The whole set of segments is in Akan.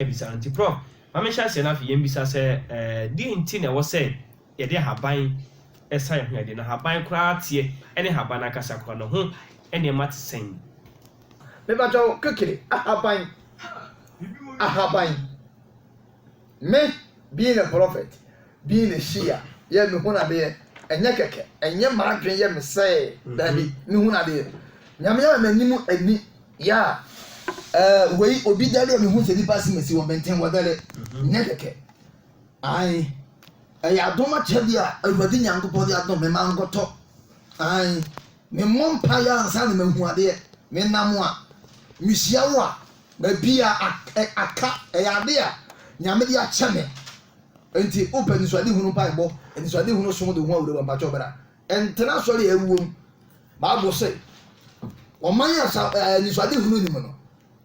bisa no nti. Prɔf, ma menhyɛ aseɛ na afei yɛmmisa sɛ, deɛn nti na ɛwɔ sɛ yɛde ahaban sa yɛn ho yadeɛ, na ahaban koraa teɛ ne ahaban no ankasa koraa no ho nneɛma te sɛn? Me pa kyɛw kekere ahaban ahaban me being a prophet being a shia yɛ me hunu adeɛ ɛnyɛ kɛkɛ ɛnyɛ m'adwene yɛ me sɛɛ daabi me hunu adeɛ nyame ama m'anim ani Yeah eh wei obi dare a mehu sɛ nipa se mesi wɔ bɛnten wɔ dare nyɛ kɛkɛ ae ɛyɛ adom akyɛ bi a awurade nyankopɔn de adom me ma nkɔtɔ ae me mmɔ mpa yɛ ansa na mahu adeɛ me nam a mehyia wo a baabi a aka ɛyɛ ade a nyame de akyɛ me nti wopɛ nisuade hunu mpa ɛbɔ nisuade hunu som de ho awura wɔ mpakyɛ ɔbɛra Ɛntena asɔre a ɛwuo mu. Bible se, Ɔman a sa ɛ anisoade hunu nni mu no,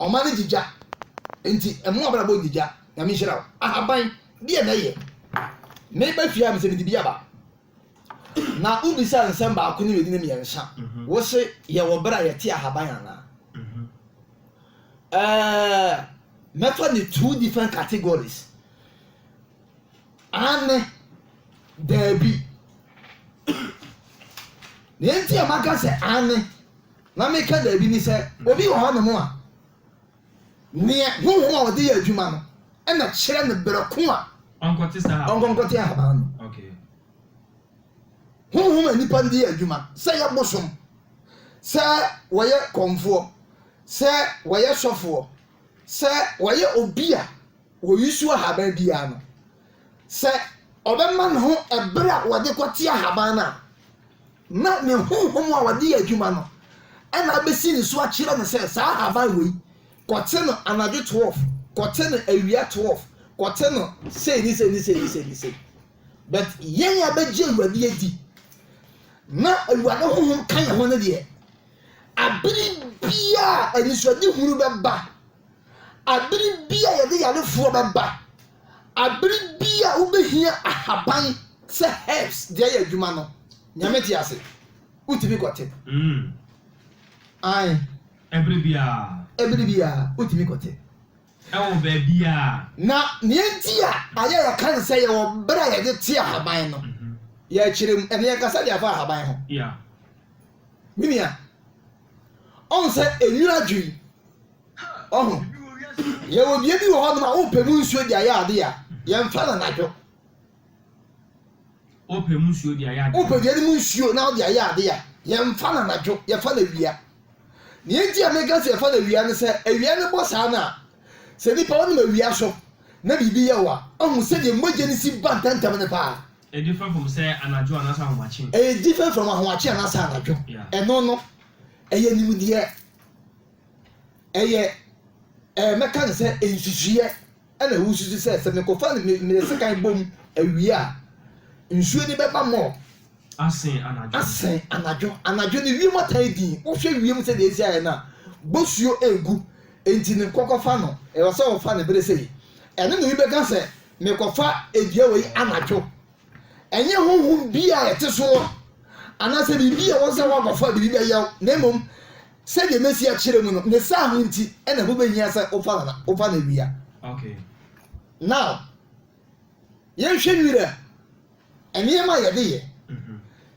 ɔman no gye gya. Enti mmoa abrabɔ nni gya. Nyame nhyira wo. Ahaban, deɛ na ɛyɛ? Meba fie ha mesɛ mede bi aba. Na wo bisa nsɛm baako ne mmienu ne mmiɛnsa. Mhm. Wo se yɛwɔ berɛ a yɛte ahaban anaa? Mhm. Ɛɛ, mɛfa ne two different categories. Aane, Daabi. Deɛ nti a maka sɛ aane na meka daabi ne sɛ, obi wɔ hɔnom a, neɛ honhom a ɔde yɛ adwuma no na kyerɛ no berɛ ko a ɔnkɔnkɔte ahaban no. Honhom a nnipa de yɛ adwuma, sɛ ɛyɛ bosom, sɛ wɔyɛ kɔmfoɔ, sɛ wɔyɛ sɔfoɔ, sɛ wɔyɛ obi a, Wɔyusu ahaban biara no, sɛ ɔbɛma ne ho bere a wɔde kɔte ahaban no a, na ne honhom a wɔde yɛ adwuma no na abɛsi ne so akyerɛ no sɛ saa ahaban wei, kɔte no anadwo 12, kɔte no awia 12, kɔte no sei ne sei ne sei ne sei ne sei. But yɛn a bɛgye Awurade adi na Awurade honhom ka yɛn ho no deɛ, abere biara anisoadehunu bɛba. Abere bi a yɛde yarefoɔ bɛba, abere bi a wobɛhia ahaban sɛ herbs de ayɛ adwuma no, Nyame te ase, wotumi kɔte. Mm. Ae. Ɛbere biara. Ɛbere biara, wotumi kɔte. Ɛwɔ baabiara. Na nea enti a ayɛ a yɛka no sɛ yɛwɔ bere a yɛde te ahaban no, yɛrekyerɛ mu, ɛnde yɛnkasa de afa ahaban ho. Yeah. Me nua, ɔhu sɛ enwura dwo yi, Ɔho, yɛwɔ dua bi wɔ hɔnom a wopɛ mu nsuo de ayɛ adeɛ a, yɛmfa no anadwo. Wopɛ mu nsuo de ayɛ adeɛ. Wopɛ dua no mu nsuo na wode ayɛ adeɛ a, yɛmfa no anadwo, yɛfa no awia. Nea enti a meka sɛ yɛfa no awia no sɛ, awia no bɔ saa no a, sɛ nipa wonam awia so na biribi yɛ wo a, ɔho sɛdeɛ mogya no si ba ntɛmntɛm no paa. Ɛyɛ different from sɛ anadwo anaasɛ ahomakye. Ɛyɛ different from ahomakye anaasɛ anadwo. Ɛno no, ɛyɛ nimdeɛ. Ɛyɛ ɛɛ mɛka no sɛ nsusuiɛ ɛna wosusu sɛ sɛ mekɔfa no me mede sekan bom awie a nsuo no bɛba mɔ asen anadwo asen anadwo anadwo no wiem atan din wohwɛ wiem sɛ deɛ ɛsi ayɛ no a bosuo ɛgu enti no kɔkɔfa no ɛwɔ sɛ wɔfa no bere sɛ yi ɛno na obi bɛka sɛ mekɔfa adua wei anadwo ɛnyɛ honhom bi a ɛte soɔ anaasɛ biribi a wɔn sɛ wɔakɔfa biribi bɛyɛw na mmom Sɛdeɛ masi akyerɛ mu no, ne saa ho nti na ɛho bɛhia sɛ wofa no na wofa no awia. Now, yɛnhwɛ nwira nneɛma a yɛde yɛ.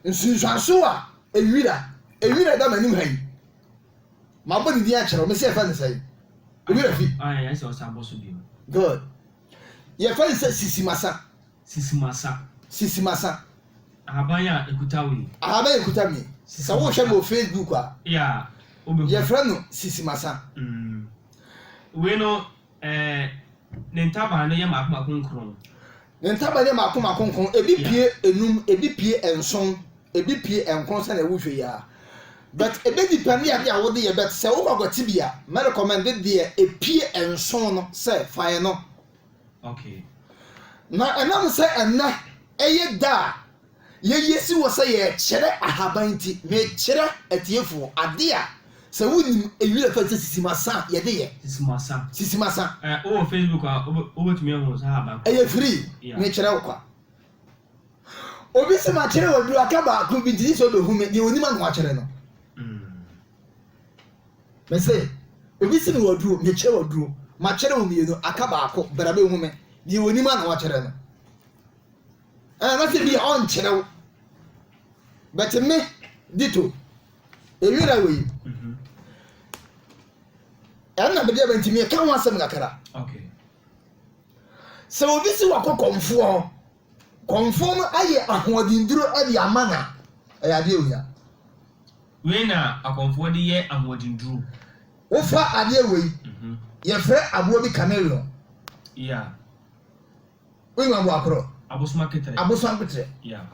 Nsunsuanso a nwira, nwira da m'anim ha yi, mabɔ ne din akyerɛ wo, mesi yɛfɛ no sɛn? Nwira fi. Good. Yɛfɛ no sɛ sisimasa. Sisimasa. Sisimasa. Ahaban a ɛkuta nwi. Ahaban a ɛkuta nwi. Sɛ wohwɛ no wɔ Facebook a, yɛfrɛ no sisimasa. Mm. Wei no, eh, ne ntaban no yɛ mako mako nkron. Ne ntaban yɛ mako mako nkron. Ebi pie enum, ebi pie nson, ebi pie nkron sɛnea wohwɛ yi ara. But ebe depend ade a wode yɛ but sɛ wokɔ akwati bi a, mɛrekɔmɛnde deɛ epie nson no sɛ fa yɛ no. Na ɛnam sɛ ɛnnɛ yɛ da a yɛyɛ si wɔ sɛ yɛkyerɛ ahaban nti, mekyerɛ atiefo ade a sɛ wonim eyi a fɛ sɛ sisimasa a yɛde yɛ. Sisimasa. Sisimasa. Ɛ, wowɔ Facebook a, wobɛtumi ahu saa ahaban koro. Ɛyɛ firi. Mekyerɛ wo kwa. Obi se makyerɛ wo aduaka baako bi nti gye sɛ ɔbɛhu me, deɛ ɔnim ano akyerɛ no. Mm. Me se, obi se me waduro, mekyɛ waduro, makyɛrɛ wo mmienu, aka baako, bra bɛhu me, deɛ ɔnim a na wakyɛrɛ no. Anaasɛ bi a ɔnkyerɛ wo. But me, dito, ɛwira wei. Mhm. Ɛna mede aba nti meka ho asɛm kakra. Sɛ obi se wakɔ kɔmfoɔ hɔ, Kɔmfoɔ no ayɛ ahoɔdenduro de ama no a, ɛyɛ adeɛ a ohia. Wei na akɔmfoɔ de yɛ ahoɔdenduro. Wofa adeɛ wei, yɛfrɛ aboɔ bi carnarion. Yeah. Wonim aboɔ akorɔ? Abosom aketerɛ. Abosom aketerɛ. Yeah.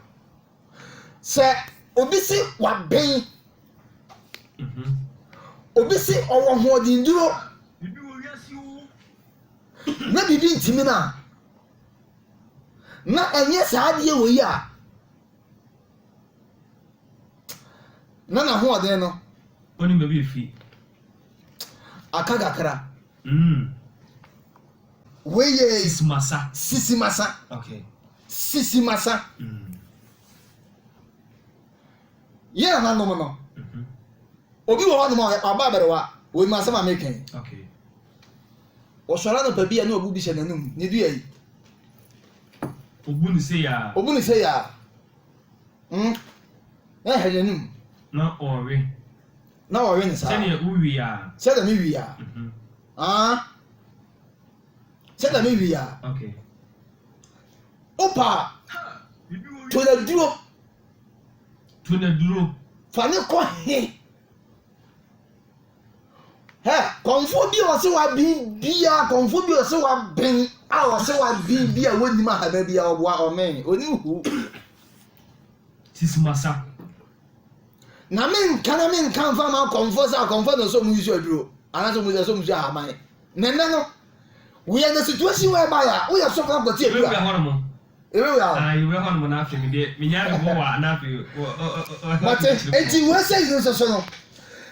Sɛ obi se waben, mm-hmm. obi se ɔwɔ hoɔdenduro, na biribi ntumi no a, Na ɛnyɛ saa adeɛ wɔ yi a na n'ahoɔden no Only maybe if he. aka kakra. Mm. Wei yɛ Sisi masa. sisi masa Okay. sisi masa Mm. yɛn nananom no Mhm. obi wɔ hɔnom a ɔyɛ ɔbaa bɛrewa wei ma asɛm a meka yi Okay. Ɔsɔre anɔpa bi a na obu bi hyɛ n'anom. Ne dua yi. Obu ne sei a. Obu ne sei a. Mm. Na ɛhɛ n'anom. Na ɔwe. Na ɔwe ne saa. Sɛdeɛ wowi a. Sɛdeɛ me wi a. Ah. Sɛdeɛ me wi a. Okay. Opa. To na duro. To na duro. Fa ne kɔ he. Hɛ! Kɔmfoɔ bi a ɔse waben biaa, kɔmfoɔ bi a ɔse waben a ɔse waben bi a wɔnnim ahaba biaa ɔboa ɔmee, ɔnim huu. Sisi masa. Na me nka na me nka nfa ma kɔmfoɔ sɛ akɔmfoɔ na ɔsɛ ɔmo yusu aduro anaasɛ ɔmo sɛ ɔmo yusu ahaban. Nɛnɛ no, we are in a situation whereby a woyɛ sɔfo akɔte aduro a. Ah, yɛ wura hɔ nom no afei me deɛ me nya me wowaa na afei Mote? Enti wei sɛ yiri nso so no,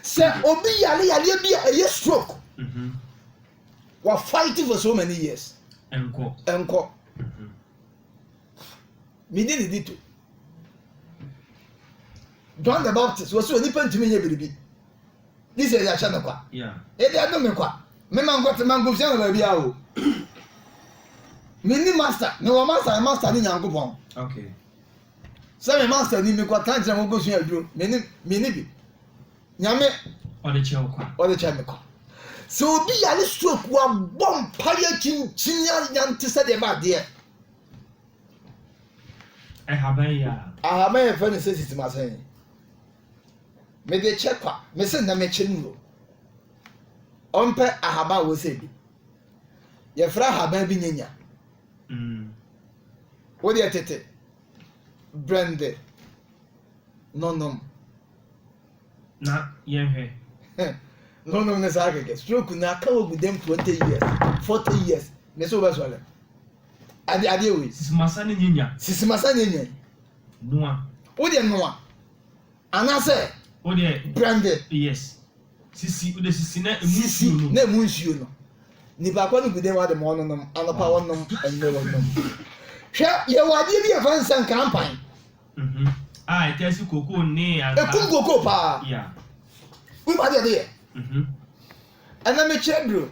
sɛ obi yare yareɛ bi a ɛyɛ stroke, mhm. wa fight for so many years. Ɛnkɔ. Ɛnkɔ. Mhm. Medi ne di to. John the Baptist, wɔsi wɔ nipa ntumi nyɛ biribi. Jesus yɛahyɛ no kwa. Ebi ado me kwa. Me ma nkɔte ma nkosua no baabi a o. Menni master. Me wɔ master me master ne Nyankopɔn. Okay. Sɛ me master ni me kɔ tan kyerɛ mo nkosua aduro. Menni menni bi. Nyame. Ɔde kyɛ wo kwa. Ɔde kyɛ me kwa. Sɛ obi yare stroke wabɔ mpa yɛ kyinkyin ayante sɛ deɛ ba adeɛ. Ɛhaban yɛ a. Ahaban yɛ fɛ ne sɛ sisi ma sɛn. Mede kyɛ kwa, me se nnɛ mɛkyɛ no o. Ɔmpɛ ahaban a wɔsɛ bi. Yɛfrɛ ahaban bi nyanya. Wodeɛ tete, brɛnde no nom. Na yɛhwɛ. No nom ne saa kɛkɛ. Stroke na aka wɔ gu dɛm 20 years, 40 years. Me se wobɛsɔre. Ade adeɛ wei. Sisimasa ne nyanya. Sisimasa ne nyanya. Noa. Wo deɛ noa anaasɛ. Wo deɛ. Brande. Yes. Sisi wo deɛ sisi na emu nsuo no. Sisi na emu nsuo no. Nipa kɔ no gu den wa de ma ɔnonom anɔpa wɔnom ɛnɛ wɔnom. Hwɛ yɛ wɔ adeɛ bi yɛ fɛn sɛ nkrampan. Mhm. A ɛtɛ si koko ne anka. Ekum koko paa. Yeah. Wo ba deɛ de yɛ. Mhm. Ɛnɛ mekyerɛ duro.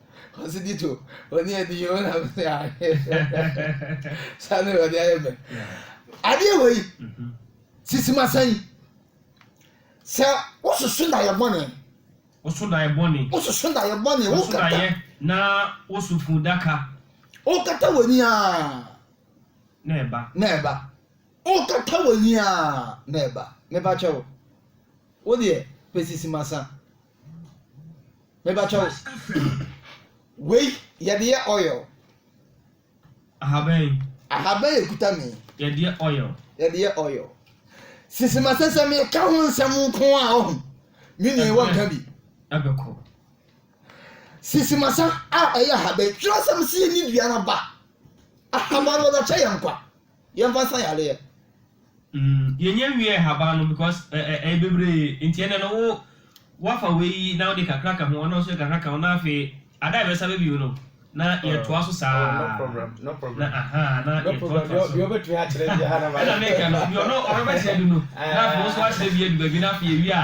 Ɔsi di to oni ɛdi yi ɔna mi sɛ ahe sani ɔdi ayɛ mɛ adeɛ wɔ yi sisi ma sɛn sɛ wososo na yɛ bɔne woso na yɛ bɔne wososo na yɛ bɔne woso na yɛ na woso fun daka wokata wɔ ni a na ɛba na ɛba wokata wɔ ni a na ɛba mepa kyɛw wo deɛ pɛ sisi ma sɛn. Meba kyɛw. Wei yɛde yɛ oil. Ahaban. Ahaban ekuta mi. Yɛde yɛ oil. Yɛde yɛ oil. Sisi ma sɛ sɛ mi ka ho nsɛm nko a ɔho. Mi nua wɔ nka bi. Ɛbɛkɔ. Sisi ma sa a ɛyɛ ahaban. Twerɛsɛm si yɛ ni dua na ba. Ahaban no ɔdɔ kyɛ yɛn kwa. Yɛnfa nsa yareɛ. Mm yɛnyɛ nwie ɛhaban no because ɛ ɛ ɛyɛ bebree nti ɛnɛ no wo woafa wei yi na wode kakra ka ho ɔno nso de kakra ka ho na afei ada a yɛbɛsa bɛ bio no na yɛtoa so saa Oh no problem no problem na ahaa na no problem yɛtoatoa so deɛ wobɛtumi akyerɛ biara na mayɛ ɛna meka no deɛ ɔno ɔrebɛkyerɛ du no na afei wo nso woakyerɛ bi adu baabi na afei yɛwie a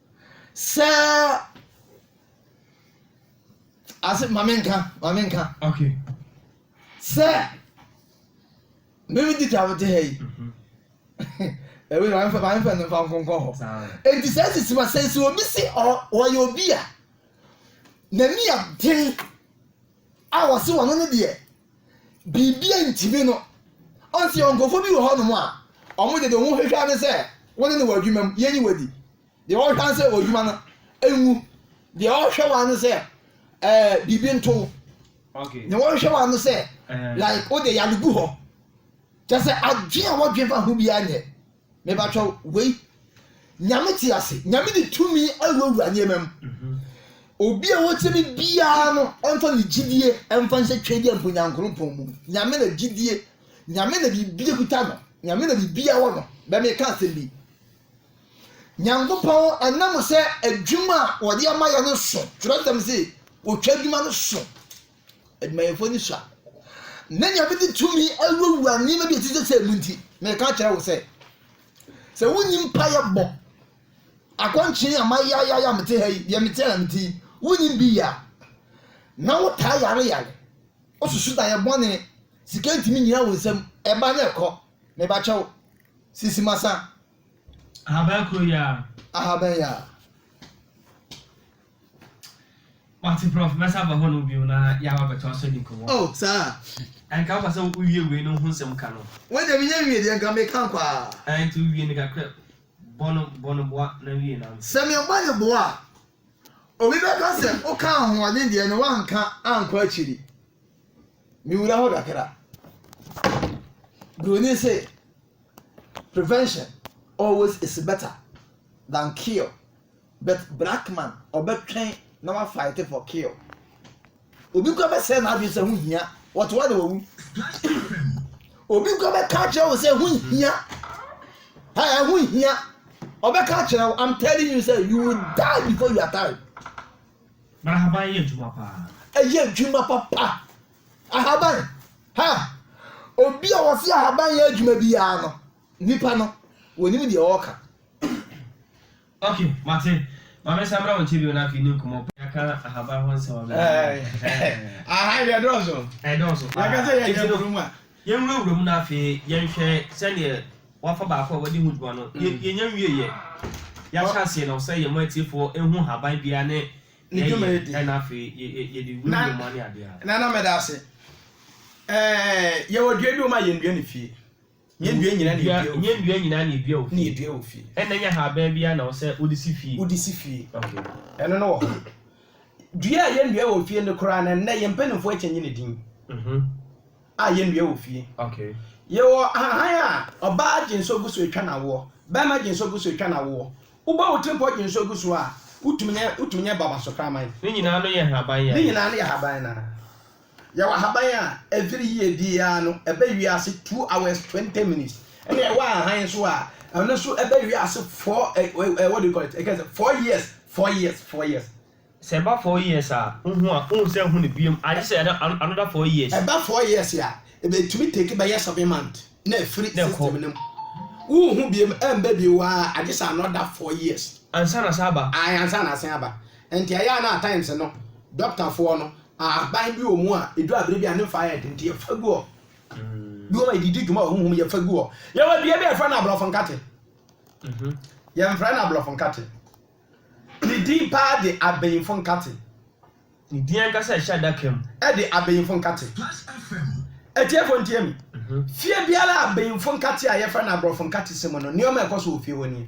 Sɛ ase ma menka ma menka. Okay. Sɛ mimi di twa mete ha yi. Mhm. Ɛwɛ ma mfa ma mfa no mfa nkonkɔ hɔ. Enti sɛ sisi ma sɛ sɛ obi si ɔyɛ obi a n'ani aden a wɔsi wɔn no deɛ. biribi antumi no. Ɔn sɛ yɛwɔ nkurɔfoɔ bi wɔ hɔnom a, wɔn deɛ deɛ wɔn hwehwɛ ne sɛ wo ne no wɔ adwuma mu, yɛnyi wo adi. Deɛ wɔhwɛ ne sɛ w'adwuma no nwu. Deɛ wɔhwɛ wɔn ne sɛ ɛɛ biribi nto wo. Deɛ wɔhwɛ wɔn ne sɛ like wo deɛ yare gu hɔ. Kyɛ sɛ adwene a wɔdwene fa ho biara nyɛ. Me batwa wei Nyame te ase Nyame de tumi awurawura nneɛma mu obi a wɔtie me biara no ɛmfa ne gyidie ɛmfa nhyɛ twɛ deɛ mpo nyankoropɔn mu Nyame na gyidie Nyame na biribi kuta no Nyame na biribi awɔ no bɛ me ka asɛm bi Nyankopɔn ɛnam sɛ adwuma a wɔde ama yɛ no so twerɛsɛm se wɔtwa adwuma no so Adwumayɛfoɔ ani sua. Na nea mede tumi awurawura nneɛma bi a ɛte sɛ sɛ mu nti, meka akyerɛ wo sɛ, sɛ wonni mpaeɛ bɔ, akɔnkyen a mayayayɛ a mete ha yi, deɛ mete a na mete yi, wonni bi yɛ a, na wotaa yare yare, wosusu da yɛ bɔne, sika ntumi nyina wo nsam, ɛba na ɛkɔ, meba kyɛw, sisi masa. Ahaban kuro yɛ a. Ahaban yɛ a. Wate prɔf, mɛsan aba hɔ nom bio na yɛaba bɛtoa so adi nkɔmmɔ. Oh, saa? Ɛnka wopɛ sɛ wowie wei no ho nsɛm ka no? Wei deɛ menya nwie deɛ, nka meka nkɔ ara. Ɛɛ, nti wowie no kakra, bɔ no, bɔ no boa na wie na ante. Sɛ mebɔ no boa a, obi bɛka sɛ wokaa ahoɔden deɛ na woanka ankɔ akyiri. Mewura hɔ kakra. Buroni se, prevention always is better than cure. But Blackman ɔbɛtwɛn na wa fight for kill. Obi kura bɛsɛ n'adwene sɛ ho hia wɔtoa de wɔwu. Obi kura bɛka akyerɛ wo sɛ ho hia. Ɛɛ ho hia. Ɔbɛka akyerɛ wo I'm telling you sɛ you will die before your time. But ahaban yɛ adwuma paa. Ɛyɛ adwuma papa. Ahaban. Ha. Obi a wɔsi ahaban yɛ adwuma biara no. Nipa no. Wɔnim deɛ ɔɔka. Ok mate ma me nsa mra wo nkyɛ bio na afei ne nkumɔ paa. Yɛaka ahaban ho nsɛm abɛn awiei. Ahan deɛ ɛdɔɔso. Ɛdɔɔso paa. Yɛka sɛ yɛn yɛn wura mu a. Yɛn wura wura mu na afei yɛn hwɛ sɛdeɛ wafa baako a wadi ho dwuma no. Yɛn yɛn wie yɛ. Yɛahyɛ aseɛ na ɔsɛ yɛn mo atiefoɔ ɛhu ahaban biara ne ne dwuma yɛ di. Ɛna afei yɛ yɛ yɛ de wura wura mu ane adeɛ a. Nana meda ase. Ɛɛ yɛwɔ dua bi wɔn a yɛn dua ne fie. Nyɛ nnua nyinaa na edua wɔ fie. Nyɛ nnua nyinaa na edua wɔ fie. Na edua wɔ fie. Ɛnna nyɛ haban biara na ɛwɔ sɛ wode si fie. Wode si fie. Okay. Ɛno no wɔ hɔ. Dua a yɛnnua wɔ fie no koraa no, ɛnnɛ yɛn mpanyimfoɔ akyɛnye ne din. Mhm. A yɛnnua wɔ fie. Okay. Yɛwɔ ahahan a ɔbaa gye nso gu so atwa no awoɔ. Barima gye nso gu so atwa no awoɔ. Wobɔ wo tirimpɔ gye nso gu so a, wotumi nyɛ wotumi nyɛ babaso kraman. Ne nyinaa no yɛ haban yɛ. Ne nyinaa no yɛ haban no ara. Yɛwɔ ahaban a ɛfiri yie biara no ɛbɛ wiase two hours twenty minutes ɛna ɛwɔ ahan nso a ɛno nso ɛbɛ wiase four ɛ ɛ what do you call it ɛkɛ sɛ four years four years four years. Sɛ ɛba four years a wohu a wohu sɛ ɛho no biom agye sɛ ɛda another four years. Ɛba four years a ɛbɛtumi take bɛyɛ seven month na ɛfiri system no mu wohu biom ɛmba bio aa agye sɛ another four years. Ansa na asan aba. Ae ansa na asan aba. Enti ɛyɛ a na at times no dɔktafoɔ no ahaban bi wɔ mu a ɛdu abere bi a ne mfa yɛ den nti yɛfa gu hɔ. Bi wɔ hɔ a yɛde di dwuma wɔ honhom yɛfa gu hɔ. Yɛwɔ dua bi a yɛfrɛ no aborɔfo nkate. Yɛmfrɛ no aborɔfo nkate. Ne din paa de abayinfo nkate. Ne din ankasa a ɛhyɛ adaka mu. De abayinfo nkate. Atiefoɔ ntie me. Fie biara a abayinfo nkate a yɛfrɛ no aborɔfo nkate si mu no, nneɛma a ɛkɔ so wɔ fie hɔ nie.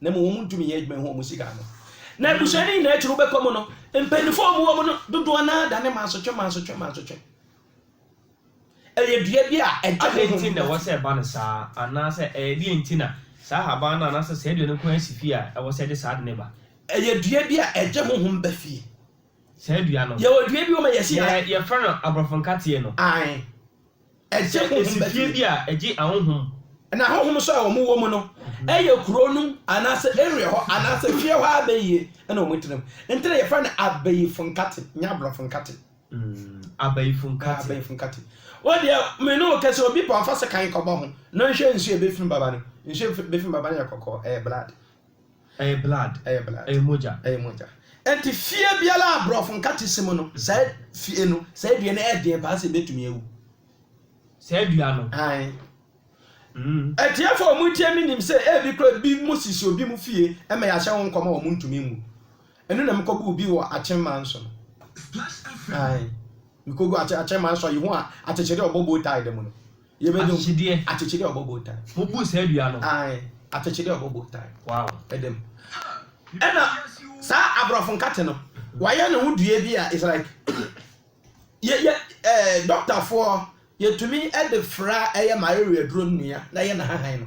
na mmom wɔntumi nyɛ adwuma ho wɔn sika ano. Na abusua no nyinaa akyiri wobɛkɔ mu no, mpanyinfoɔ a wɔwɔ mu no dodoɔ no ara dane mansotwe mansotwe mansotwe. Ɛyɛ dua bi a ɛgya honhom mu. Adɛn nti na ɛwɔ sɛ ɛba no saa? Anaasɛ ɛyɛ deɛn nti na saa ahaban no anaasɛ saa dua no nko ara si fie a ɛwɔ sɛ ɛde saa ade no ba? Ɛyɛ dua bi a ɛgye honhom ba fie. Saa dua no. Yɛwɔ dua bi wɔ ma yɛsi. Yɛ yɛfrɛ no aborɔfo nkateɛ no. Ae. Ɛsɛ nsifie bi a ɛgye ahonhom. Na ahonhom nso a wɔwɔ mu no yɛ kuro no anaasɛ area hɔ anaasɛ fie hɔ abayie na wɔtena mu. Nti na yɛfrɛ no abayifo nkate, nyɛ aborɔfo nkate. Abayifo nkate. Abayifo nkate. Wo deɛ, me ne wo kɛse, obi pɛ ɔmfa sekan nkɔbɔ ho na ɔnhwɛ nsuo a ɛbɛfiri mu bɛba no. Nsuo a ɛbɛfiri mu bɛba no yɛ kɔkɔɔ, ɛyɛ blood. Ɛyɛ blood, ɛyɛ blood. Ɛyɛ mogya. Ɛyɛ mogya. Enti fie biara a brɔfo nkate si mu no, saa fie no, saa dua no yɛ den paa sɛ ebetumi awu. Saa dua no. Ae. Mm. Atiefo a wɔretie me nim sɛ ebi koraa bi mo sisi obi mo fie ma yɛahyɛ ho nkɔm a wɔntumi nwu. Ɛno na mekɔguu bi wɔ Akyemman so no. Ae. Mekɔguu Akyemman so a Yehowa akyekyere ɔbɔ bow tie da mu no. Yɛbɛdum. Akyekyedeɛ. Akyekyedeɛ a ɔbɔ bow tie. Wobu saa dua no. Ae, akyekyedeɛ a ɔbɔ bow tie. Wow. Ɛda mu. Ɛna saa aborɔfo nkate no, wɔayɛ ne ho dua bi a it's like yɛ yɛ ɛɛ dɔktafoɔ yɛtumi de fra ɛyɛ malaria duro nnua na yɛ na hahan no.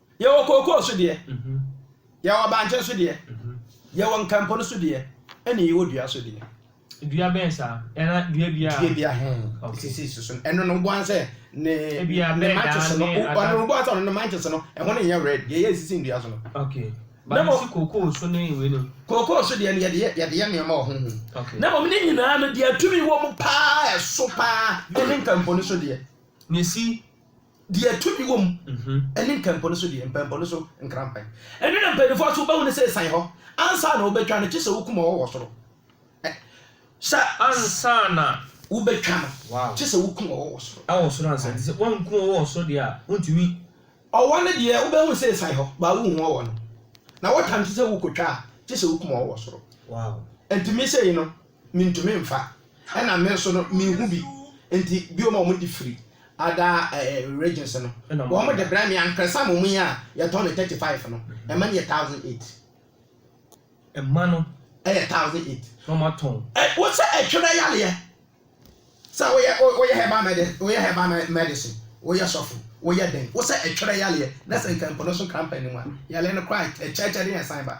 Yɛwɔ kookoo so deɛ, yɛwɔ bankye so deɛ, yɛwɔ nkampon so deɛ, ɛne yɛwɔ dua so deɛ. Dua bɛn saa? Ɛna dua biara? Dua biara he. Okay. Sisi so so. Ɛno no boa sɛ ne ne matches no, ɔno no boa sɛ ɔno no matches no, ɛho no nyɛ red. Deɛ yɛ sisi ndua so no. Okay. Na mo kookoo so ne wei no. Kookoo so deɛ no yɛde yɛ yɛde yɛ nneɛma wɔ ho ho. Okay. Na mo ne nyinaa no deɛ tumi wɔ mu paa ɛso paa ɛne nkamponi so deɛ. Nesi. Deɛ tumi wɔ mu ne nkɛmpɔ no so deɛ, mpɛmpɔ no so nkrampan. Ɛno na mpaninfoɔ nso wobɛhu no sɛ ɛsan hɔ ansa na wobɛtwa no, gye sɛ wokum ɔwɔ wɔ soro. Ɛ, sɛ. Ansa na. Wobɛtwa no, gye sɛ wokum ɔwɔ wɔ soro. Wɔ soro ansa, nti sɛ woankum ɔwɔ wɔ soro deɛ a, wontumi. Ɔwɔ no deɛ, wobɛhu sɛ ɛsan hɔ, baa wonhu ɔwɔ no. Na wɔtwa no nso sɛ wokɔtwa a, gye sɛ wokum ɔwɔ wɔ soro. Ɛntumi sɛ yi no. Mintumi mfa, ɛna me nso no minhu bi nti bio ma wɔde firi other regions no wɔde brɛ me ankresa mom yi a yɛtɔn no thirty five no ɛma no yɛ thousand eight. Ɛma no. Ɛyɛ thousand eight. Na wɔn atɔn. Ɛ wosɛ ɛtwerɛ yareɛ sɛ woyɛ woyɛ herbal medi woyɛ herbal medicine woyɛ sɔfo woyɛ dɛn wosɛ ɛtwerɛ yareɛ na sɛ nka mpo no so krampa anim a yareɛ no koraa ɛkyɛɛkyɛ de yɛn san ba.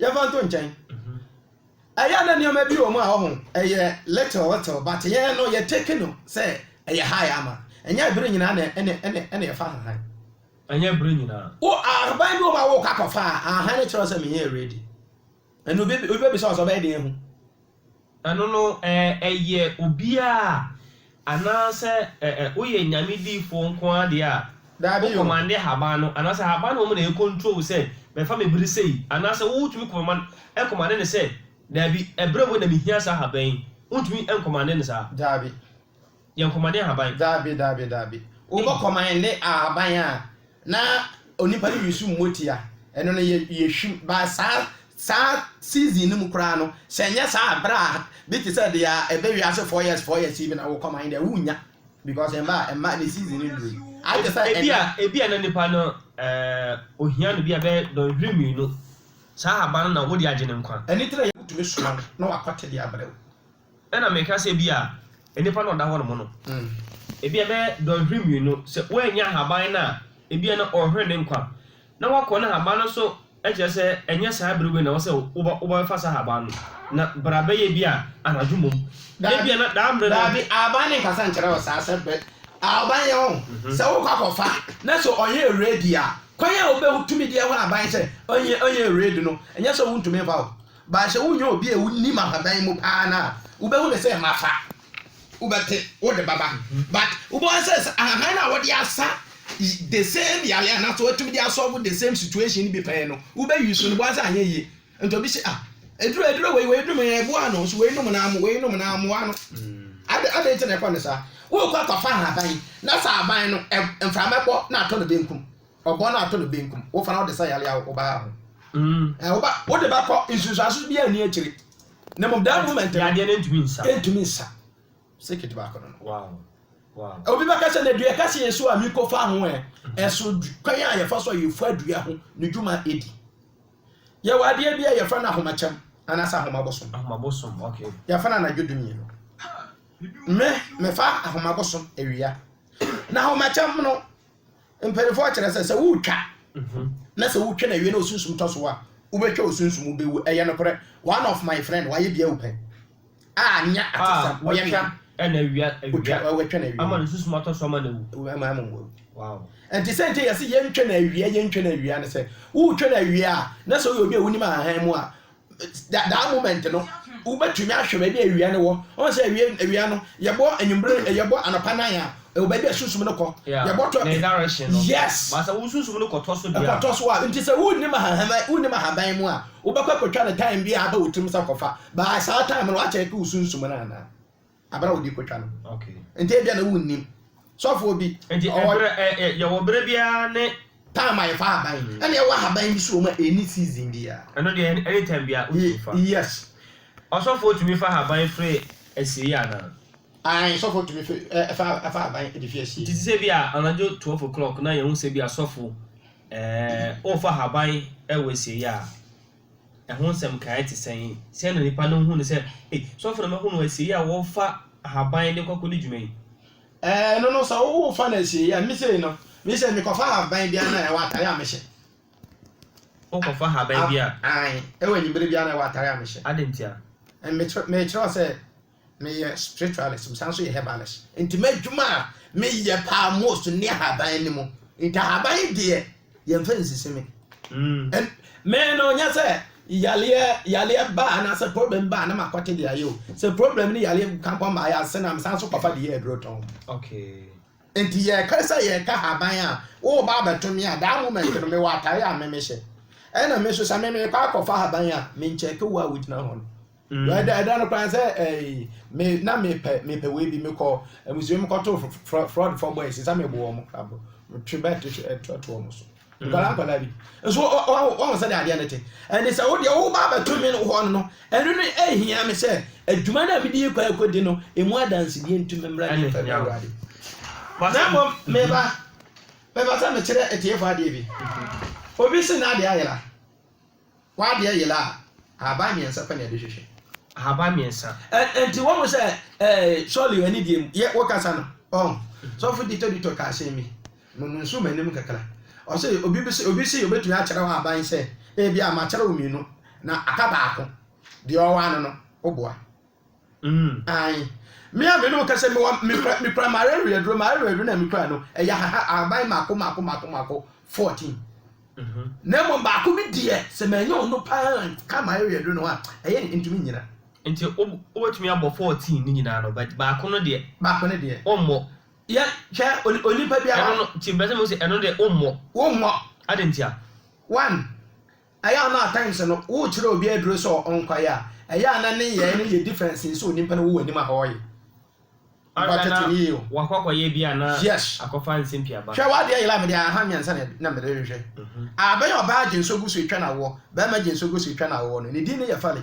Yɛmfa nto nkyɛn. Ɛyɛ a na nneɛma bi wɔ mu a ɔho ɛyɛ little little but yɛn no yɛ take no sɛ ɛyɛ high ama. Ɛnyɛ bere nyinaa na ɛna ɛna ɛna yɛfa ahahan. Ɛnyɛ bere nyinaa. Wo ahaban bi wɔ mu a wokɔ akɔfa a, ahahan no kyerɛ wo sɛ menyɛɛ ready. Ɛnna obi obi bɛbisa wo sɛ ɔbɛyɛ dɛn ahu. Ɛno no, ɛ, ɛyɛ obiara a? Anaasɛ, ɛ, ɛ, woyɛ Nyame diyifoɔ nko ara deɛ a, Daabi wo o. kɔmande haban no, anaasɛ haban no mmom na ɛrekontrol wo sɛ, bɛfa me bere sɛi, anaasɛ wotumi kɔmama, ɛkɔmande no sɛ, Daabi, ɛberɛ wei na mehia saa haban yi? Wontumi nkɔmande no saa. Daabi. Yɛ nkɔmɔden ahaban. Daabi, daabi, daabi. Wobɔ kɔmɔɛnde ahaban a, na onipa no use mmotia. Ɛno no, yɛ, yɛhwim. Ba saa, saa season no mu koraa no, sɛ ɛnyɛ saa a, berɛ a, bi te sɛ deɛ ɛbɛ wiase four years, four years yi bi na wo kɔmɔɛnde a, wonnya. Because ɛmma, ɛmma, ne season no nnurui. Ayɛ te sɛ ɛnnɛ. Ebia, ebia na nipa no, eh, ohia no bia bɛyɛ dɔnhwere mmienu. Saa ahaban no na wode agye ne nkwa. Ɛno nti na yɛtumi soma no na wakɔte de abrɛ wo. Ɛna meka sɛ ebia nnipa na ɔda hɔnom no, ebia ɛbɛyɛ dɔnhwere mmienu, sɛ wannya ahaban no a, ebia na ɔrehwere ne nkwa, na wakɔ na ahaban no nso kyerɛ sɛ ɛnyɛ saa bere wei na ɛwɔ sɛ wobɛfa saa ahaban no, na bere a ɛbɛyɛ ebia anadwo mmom, na ebia na daa mmere no. Daabi, ahaban no nkasa nkyerɛ wo saa sɛ bere a ahaban yɛ hɔ, sɛ wokɔ akɔfa, na sɛ ɔyɛ red a, kwan a wobɛtumi de ahu ahaban sɛ ɔyɛ red no, ɛnyɛ sɛ wontumi mfa hɔ. Baashe wonyɛ obi a wonim ahaban mu paa no a wobɛhu no sɛ mafa wobɛte wode bɛba but wobɛhu sɛ sɛ ahahan no a wɔde asa the same yare anaasɛ wɔatumi de asɔlvo the same situation no bi pɛn no wobɛyi so no bɛhu sɛ anyɛ yie nti obi sɛ ah eduro eduro wei wei dum yɛ ɛboa no so wei nom na amu wei nom na amoa no ade ade nti na ɛkɔ no saa wokɔ akɔfa ahaban na sɛ ahaban no mframa bɔ na atɔ no benkum Ɔbɔ no ato no benkum. Wofa na wode sa yare awo wo ba ho. Ɛɛ, wo ba, wode bɛkɔ nsunsuanso biara nni akyire. Na mmom that moment no. Yadeɛ no ntumi nsa. Ɛntumi nsa. Circuit baako no no. Wow. Wow. Obi bɛka sɛ na dua kɛseɛ so a miko fa ho ɛ. Ɛso kwan a yɛfa so a yɛfua dua ho ne dwuma ɛdi. Yɛwɔ adeɛ bi a yɛfrɛ no ahomakyɛm anaasɛ ahomabosom. Ahomabosom, ok. Yɛfa no anadwo du mmienu. Me, mefa ahomabosom awia. Na ahomakyɛm no, Mpaninfoɔ kyerɛ sɛ, sɛ woretwa na sɛ wotwa no awie na osunsum tɔ so a, wobɛtwa osunsum, wobɛwu. Ɛyɛ nokorɛ. One of my friend, wayɛ bi awu pɛn. A nyɛ atesɛm, ɔyɛ me nana. Watwa no awia. Watwa no awia. Ama no sunsum atɔ so ama no awu. Ama ama wawu. Wow. Ɛnti sɛ nti yɛse yɛntwa no awia, yɛntwa no awia ne sɛ, woretwa no awia a, na sɛ woyɛ obi a wonim ahahan mu a, da daa moment no wobɛtumi ahwɛ baabi a awia no wɔ ɔn sɛ awia awia no yɛbɔ anwummere mm. yɛbɔ anɔpa nan a ɛwɔ baabi a sunsum no kɔ yɛbɔ tɔ ne direction no yes ba sɛ wo sunsum no kɔtɔ so deɛ kɔtɔ so a nti sɛ wonnim ahaban wonnim ahaban mu a wobɛkɔ akɔtwa no time bi a aba wo tirim sɛ kɔfa baa saa time no wakyɛ ke wo sunsum no anaa Aber a wɔdze kotwa no. Ntsi ebia na wunnyim. Sɔfoɔ bi, ɔwɔ. Ntsi yɛwɔ ber biara ne. Time a yɛfa ahaban. Nna yɛwɔ ahaban bi so wɔ mu a enni season biara. Ɛno deɛ anytime biara wotumi fa. Yes. Ɔsɔfoɔ tumi fa ahaban firi asiei anaa? Ae, sɔfoɔ tumi fi fa ahaban de fi asiei. Nti te sɛ bi a anadwo twelve o'clock na yɛhu sɛ bi a sɔfo, ɛɛ, worefa ahaban wɔ asiei a. Ɛho nsɛm nkaeɛ te sɛn? Sɛn na nnipa no hu no sɛ, Ei, sɔfo no ma hunu asieeɛ a wɔfa ahaban de kɔ akɔdi dwuma yi? Ɛno no, sɛ wofa no asieeɛ a, me sei no, me sei mekɔfa ahaban bi a na ɛwɔ atare a mehyɛ. Wokɔfa ahaban bi a? Ae, ɛwɔ anwummere bi a na ɛwɔ atare a mehyɛ. Adɛn ntia? Mekyerɛw sɛ. Meyɛ spiritualist, mesan nso yɛ herbalist. Nti m'adwuma a meyɛ paa most ne ahaban no mu. Nti ahaban yi deɛ yɛmfa nsisi me. Mm. Me no nyɛ sɛ yaleɛ yaleɛ ba anaasɛ problem ba na makɔte de ayɛ o. Sɛ problem ne yaleɛ ka nkɔ mmaayɛ ase na mesan nso kɔfa de yɛ aduro tɔn. Okay. Nti yɛka sɛ yɛka ahaban a woba abɛto me a that moment no mewɔ atare a me mehyɛ. Ɛna me nso sɛ me mekɔ akɔfa ahaban a menkyɛke wo a wogyina hɔ no. Mm. Ɛda ɛda no koraa sɛ ɛɛ me na mepɛ mepɛ wei bi mekɔ amusua mu kɔto fraud fɔ boys nsa mebɔ wɔn koraa bɔ metwe bɛt ɛto wɔn so mm. nkwadaa nkwadaa bi nso wɔn sɛ de adeɛ no te ɛne sɛ wo deɛ wo ba abɛto me hɔ no no ɛno no ɛhia me sɛ adwuma no a mede kɔ akɔdi no ɛmu adansedie nti memmra ne mfɛ bɛ awurade na mmom meba meba sɛ mekyerɛ atiefoɔ adeɛ bi mm-hmm. obi se na adeɛ ayera W'adeɛ yera a, ahaban mmiɛnsa pɛ na yɛde hwehwɛ. Ahaban mmiɛnsa. Ɛ, ɛnti wɔn sɛ, ɛɛ, surely ɛne deɛ mu, yɛ, wokasa no, ɔn? Sɔfo Dito Dito kaa asɛm bi, mo, monsu m'anim kakra. Ɔse, obi bi se, obi se obetumi akyerɛw ahaban sɛ, ebia makyerɛw mmienu, na aka baako, deɛ ɔwɔ ano no, woboa? Mm. Ae. Me a me ne wo kasa yi, mewɔ, mekura, mekura m'areweɛ aduro, m'areweɛ aduro no a mekura no, ɛyɛ ahaha, ahaban mmaako, mmaako, mmaako, mmaako, fourteen. Mhm. Na mmom baako bi deɛ, sɛ manya ɔno pa ara anka m'areweɛ aduro no ho a, ɛyɛ den, ɛntumi nnyina. Nti wo, wobɛtumi abɔ fourteen no nyinaa no, but baako no deɛ. Baako no deɛ. Wommɔ. Yɛ, hwɛ, on, onipa biara. Ɛno no, nti mepɛ sɛ mehu sɛ ɛno deɛ wommɔ. Wommɔ. Adɛn ntia? One, Ɛyɛ a na at times no wokyerɛ obi aduro sɛ ɔnkɔyɛ a, ɛyɛ a na ne nyɛɛ no yɛ different sen sɛ onipa no wɔ w'anim a ɔɔyɛ. Ɔyɛ a na wakɔ akɔyɛ bi a na akɔfa nsɛmpi aba. Hwɛ w'adeɛ yela mede ahahan mmiɛnsa na mede rehwehwɛ. Abɛn ɔbaa gyenso gu so retwa no awoɔ, barima gyenso gu so retwa no awoɔ no, ne din ne yɛ Fally.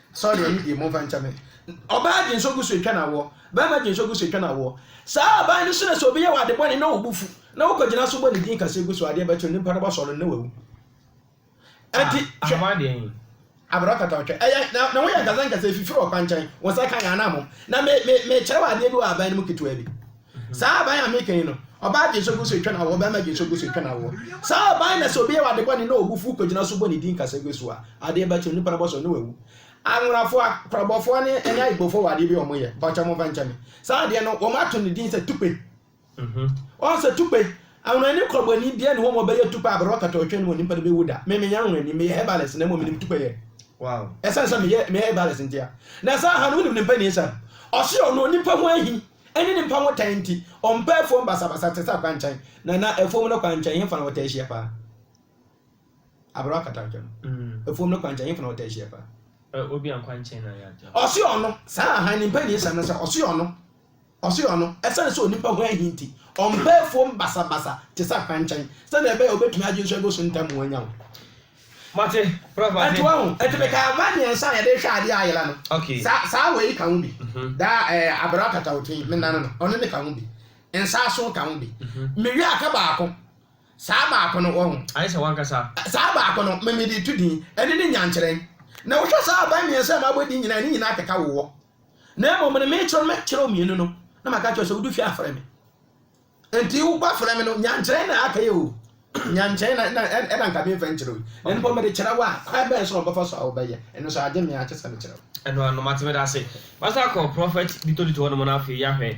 Saw deɛ ɔyɛ bie mo nfa nkyɛ me. Ɔbaa gye nso gu so etwa no awoɔ. Barima gye nso gu so etwa no awoɔ. Saa aban no so na sɛ obi yɛ wo ade bɔne na wo bo fu na wo kɔ gyina so bɔ ne din kɛseɛ gu so adeɛ bɛkye no nipa no bɔ sɔre no na wawu. Ɛnti hwɛ. Abrɛ ɔkata ɔtwɛ. Ɛyɛ na na wo yɛ nkasa nkasa efifiri ɔkwankyɛn wo nsa ka yɛn anamom. Na me me me kyerɛ wo adeɛ bi wɔ aban no mu ketewa bi. Saa aban a meka yi no, ɔbaa gyensɔ gu so twa no awoɔ, ɔbarima gyensɔ gu so twa no awoɔ. Saa aban no, sɛ obi yɛ wo ade bɔne na ɔbu fuw kogyina so bɔ ne din kasa gu so a, adeɛ bɛkye no, nipa no bɔsɔ na wawu. Anworafoɔ, Akorɔbɔfoɔ ne ɛne Ayibofoɔ wɔ adeɛ bi a wɔyɛ, mpakyɛw momfa nkyɛ me. Saa adeɛ no, wɔato no din sɛ tukpe. Ɔn sɛ tukpe, anwonani korɔbɔni biara nni hɔ ma ɔbɛyɛ tukpe a, bere a ɔkata ɔtwe no wɔ nipa no bɛwu da. Me menyɛ anwonani, meyɛ herbalist na mmom menim tukpe yɛ. Esiane sɛ meyɛ herbalist nti a. Na saa aha no, wonim ne mpanin Sam? Ɔse ɔno, onipa ho ahi. Ɛne ne mpa ho tan nti, ɔmpɛ afuom basabasa te sɛ akwankyɛn. Na na afuom no kwankyɛn hefa na wɔtaa hyia paa? Aberewa katawntwa no, afuom no kwankyɛn hefa na wɔtaa hyia paa? Obia kwankyɛn na yɛ adeɛ. Ɔse ɔno, saa ara hann mpanin nsɛm no sɛ, ɔse ɔno, ɔse ɔno, ɛsiane sɛ onipa ho ahi nti, ɔmpɛ afuom basabasa te sɛ akwankyɛn, sɛnea ɛbɛyɛ a obetumi agye nsu agu so ntɛm ho anya wo. Mate, prof mate. Ɛnti wahu, ɛnti mekaa vine ansa na yɛde rehwɛ adeɛ a ayera no. Okay. Saa, saa wei ka ho bi. Daa ɛɛ abere akata wo tiri, menane no, ɔno ne ka ho bi. Nsaaso ka ho bi. Mewie a ka baako. Saa baako no, wahu. Ayɛ sɛ w'ankasa. Saa baako no, me mede to din. Ɛno ne nyankyerɛn. Na wohwɛ saa vine mmiɛnsa a mabɔ din nyinaa a, ne nyinaa keka wowɔ. Na mmom no, merekyerɛw no, mɛkyerɛw mmienu no, na maka akyerɛ wo sɛ wodu fie a frɛ me. Enti wo ba frɛ me no, nyankyerɛ na aka yi o. Nyankyerɛ na na ɛna nka me mfa nkyerɛ yi. Na mpo mede kyerɛ wo a, kwan bɛn so na ɔbɛfa so a wobɛyɛ? Ɛno so agye me a kyɛ sɛ mekyerɛ wo. Ɛnoanom ate me dase. Masan akɔ Prɔfɛt Dito Dito hɔnom no afei yɛahwɛ.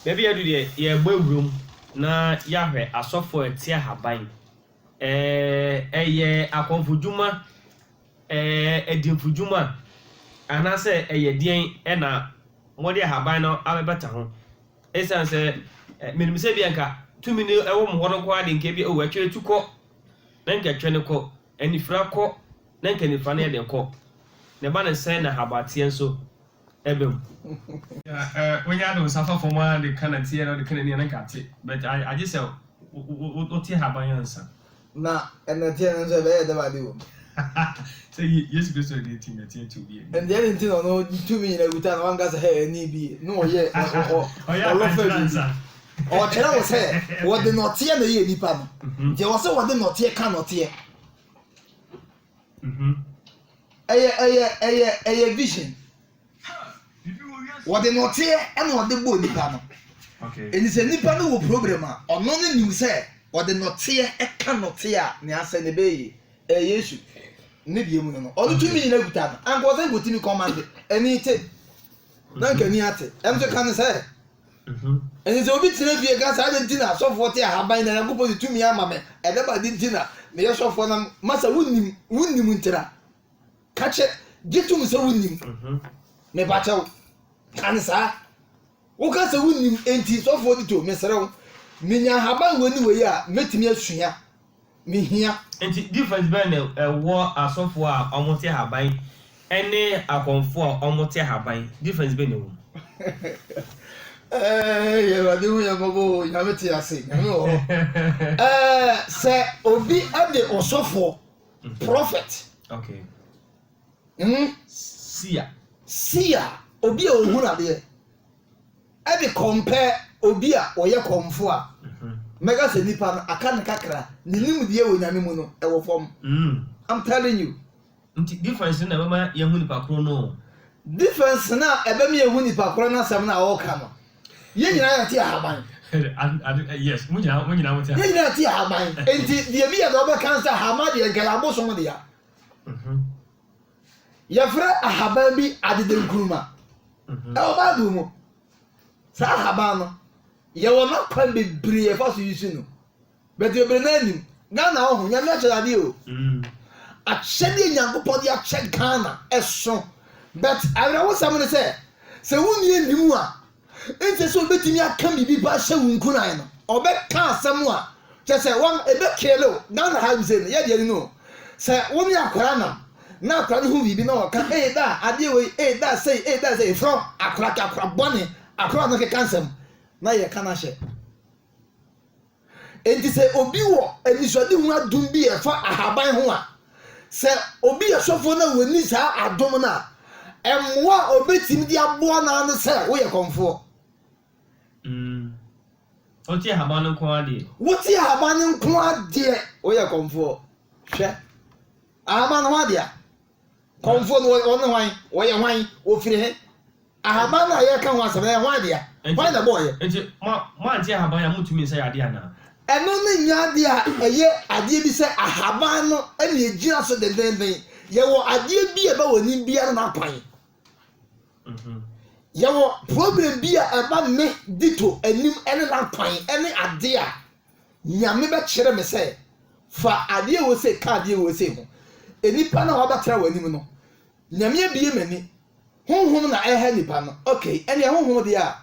Baabi yɛadu deɛ yɛrebɔ awura mu na yɛahwɛ asɔfoɔ a ɛte ahaban. Ɛɛ ɛyɛ akɔmfodwuma, ɛɛ adimfodwuma anaasɛ ɛyɛ deɛn na mode ahaban no abɛbata ho? Esiane sɛ minim sɛ ebia anka tumi no wɔ mo hɔ no nko ara de, anka ebia, oh, ɛtwerɛ tu kɔ, na anka ɛtwerɛ no kɔ, anifira kɔ, na anka anifira no yɛ den kɔ. Na ɛba no sɛn na habateɛ nso ba mu? Wonya de wo nsa fa fam ara de ka nnateɛ na wode ka n'ani a, na anka ate, but agye sɛ wote haban ansa. Na nnɛteɛ no nso, ɛbɛyɛ dɛn ade wom? Sɛ Yesu Kristo de ti na teɛteɛ obi ani. Ɛnde ɛdɛn nti na ɔno tumi nyinaa kuta na wanka sɛ, Hɛ, ɛnne bi ye, na ɔyɛ ɔlɔfa biribi? Ɔrekyerɛ wo sɛ wɔde nnɔteɛ na ɛyɛɛ nnipa no, nti ɛwɔ sɛ wɔde nnɔteɛ ka nnɔteɛ. ɛyɛ ɛyɛ ɛyɛ ɛyɛ vision wɔde nɔteɛ ɛna ɔde bɔ nipa no ɛni sɛ nipa no wɔ problem a ɔno ne nim sɛ ɔde nɔteɛ ɛka nɔteɛ a ne asɛ ne bɛyɛ ɛyɛ yesu ne deɛ mu no no ɔno tumi nyina kuta no anka ɔsɛ nkɔtumi kɔmande ɛni te na nka ni ate ɛnso ka ne sɛ Ɛsɛ sɛ obi tena fie ka, 'Saa na enti na asɔfoɔ te ahaban, na Onyankopɔn de tumi ama me. Ɛnam ade nti na meyɛ sɔfoɔ na ma sɛ wonnim, wonnim nti na. Ka kyerɛ, gye tom sɛ wonnim. Mepa kyɛw, ka no saa. Woka sɛ wonnim enti sɔfoɔ di to, mesrɛ wo, menya ahaban wei ne wei a mɛtumi asua. mehia. Nti difference bɛn na ɛwɔ asɔfoɔ a wɔte ahaban ne akɔmfoɔ a wɔte ahaban, difference bɛn na ɛwɔ mu? Eeii Awurade hu yɛn mmɔbɔ o Nyame te ase Nyame wɔ hɔ eh, sɛ obi de ɔsɔfoɔ, prophet, okay. Hmm? Sia. Sia, obi a ɔhunu adeɛ. Ɛde kɔmpɛ obi a ɔyɛ kɔmfo a, mhm. mɛka sɛ nipa no aka ne kakra, ne nimdeɛ wɔ nyame mu no ɛwɔ fam. Hmm. I'm telling you. Nti difference no na ɛbɛma yɛhu nipa koro no. Difference no a ɛbɛma yɛhu nipa koro no asɛm no a ɔreka no, yɛn nyinaa yɛte ahaban. yes mo nyinaa mo nyinaa mo te ahaban. yɛn nyinaa te ahaban nti deɛ bi yɛ deɛ ɔbɛka nsa ahaban deɛ nkɛlɛ abosom deɛ Wɔfrɛ ahaban bi adedenkuruma wɔ Bible mu. Saa ahaban no, yɛwɔ n'akwan bebree a yɛfa so use no. But bebree no anim. Ghana hɔ ho, Nyame akyɛde adeɛ o. Mm. Akyɛdeɛ Nyankopɔn de akyɛ Ghana ɛso. But awerɛhosɛm ne sɛ, sɛ wonni anim a, Ɛnsɛ sɛ ɔbɛtumi aka biribi pa ahyɛ wo nkuran no. Ɔbɛka asɛm a kyɛ sɛ wɔn ɛbɛ kele wo. Ghana ha sei no yɛdeɛ no no o. Sɛ wo ne akora nam na akora no ho biribi na ɔka ee da adeɛ wei ee da sei ee da sei frɔ akora kɛ akora bɔne akora no keka nsɛm na yɛka no ahyɛ. Enti sɛ obi wɔ anisoadehunu adom bi a ɛfa ahaban ho a, sɛ obi yɛ sɔfoɔ na wɔnni saa adom no a, mmoa a ɔbɛtumi de aboa no ara ne sɛ woyɛ kɔmfoɔ. Mm. Wote ahaban no nko ara deɛ. Wote ahaban no nko ara deɛ. Woyɛ kɔmfoɔ. Hwɛ. Ahaban no ho adea. Kɔmfoɔ no wɔn ne hwan? Wɔyɛ hwan? Wɔfiri he? Ahaban no a yɛreka ho asɛm no, ɛyɛ hwan dea? Hwan na ɛbɔeɛ? Enti mo, moante ahaban yi a, montumi nsa yɛ adeɛ anaa? Ɛno no nyɛ adeɛ a ɛyɛ adeɛ bi sɛ ahaban no na ɛgyina so dendennden. Yɛwɔ adeɛ bi a ɛbɛ wɔ anim biara no akwan. Yɛwɔ problem bi a ɛma me di to anim ne n'akwan ne ade a Nyame bɛkyerɛ me sɛ fa adeɛ ɛwɔ sei ka adeɛ ɛwɔ sei ho. Nnipa no a wɔabɛtra w'anim no, Nyame abue m'ani. Honhom na ɛha nnipa no. Okay, ɛneɛ honhom deɛ a,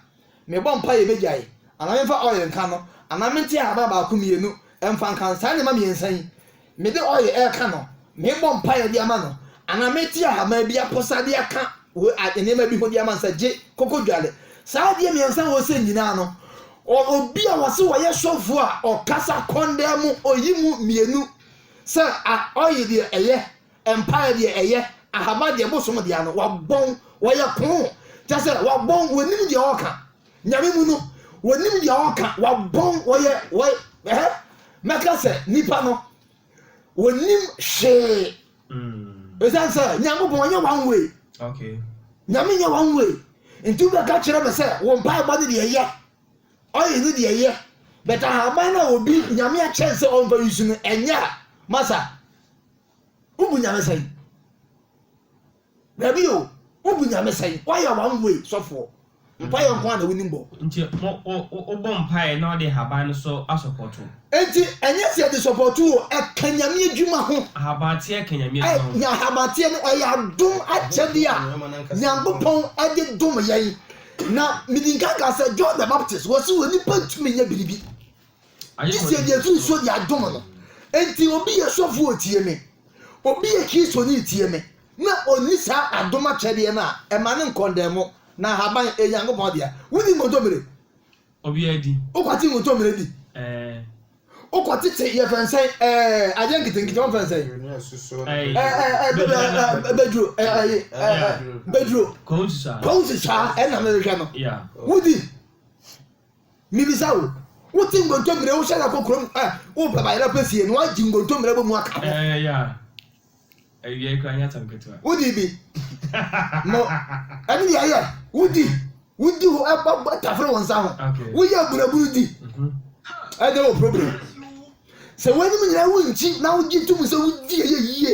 mebɔ mpa yɛ bɛgyae, anaa memfa oil nka no, anaa mente ahaban baako mmienu mfa nka no. Saa nneɛma mmiɛnsa yi. Mede oil reka no, mebɔ mpaeɛ de ama no, anaa mɛti ahaban bi aposa de aka nneɛma bi ho de ama no sɛ gye koko dware. Saa adeɛ mmiɛnsa a wɔsɛ nyinaa no, obi a wɔse wɔyɛ sɔfoɔ a ɔkasa kɔndaa mu, ɔyi mu mmienu sɛ oil deɛ ɛyɛ, mpaeɛ deɛ ɛyɛ, ahaban deɛ bosom deɛ ano, wabɔn, wɔyɛ koo, kyɛ sɛ wabɔn, wɔnim deɛ ɔreka. Nyame mu no wɔnim deɛ wɔka wɔabɔn wɔyɛ wɔ ɛhɛ mɛka sɛ nipa no wɔnim hwee ɛsiane sɛ nyankopɔn ɔnyɛ one way nyame nyɛ one way nti wobɛka kyerɛ me sɛ wo mpaebɔ no deɛ yɛ ɔyɛ no deɛ yɛ but ahaban no a obi nyame akyɛn sɛ ɔmfa yusu no ɛnyɛ a masa wobu nyame sɛn Dabi o, wo bu Nyame sɛn? Woayɛ one way sɔfoɔ. Mpaeɛ nko ara na wonim bɔ. Nti wo bɔ mpaeɛ na wode ahaban no so asɔpɔto. Nti ɛnyɛ sɛ yɛde sɔpɔto o, ɛka Nyame adwuma ho. Ahabanteɛ ka Nyame adwuma ho. Ahabanteɛ no ɛyɛ adom akyɛdeɛ a Nyankopɔn de dom yɛn. Na medi nkan kaa sɛ John the Baptist, wɔse onipa ntumi nyɛ biribi. Gye sɛ deɛ firi so deɛ adom no nti obi yɛ sɔfo otie me obi yɛ kristoni tie me na ɔnni saa adom akyɛdeɛ no a ɛma no nkɔndɛn mo na ahaban ɛyɛ nyankopɔn dea wodi nkontommire obiara di wokɔte nkontommire di wokɔtete yɛfɛ nsɛn adeɛ nketenkete wɔmfɛ nsɛn bɛduro bɛduro kɔnsusaa ɛna mehwehwɛ no wodi Mibisa wo, wotse ngontomire, wohyɛ da kɔ kurom a worepɛ bayerɛ pɛ fie no, wɔagye ngontomire abɔ mu aka ho? Ɛɛ, ya. Awiei koraa nyɛ asɛm ketewa. Wodii bi. No, ɛno deɛ ɛyɛ. Wodi, wodi hɔ, ɛbɔ bɔ tafere wo nsa ho. Okay. Woyɛ abunabunu di. Mhm. Ɛdeɛ wɔ problem. Sɛ w'anim nyinaa wonkyi na wogye tom sɛ wodi ɛyɛ yie.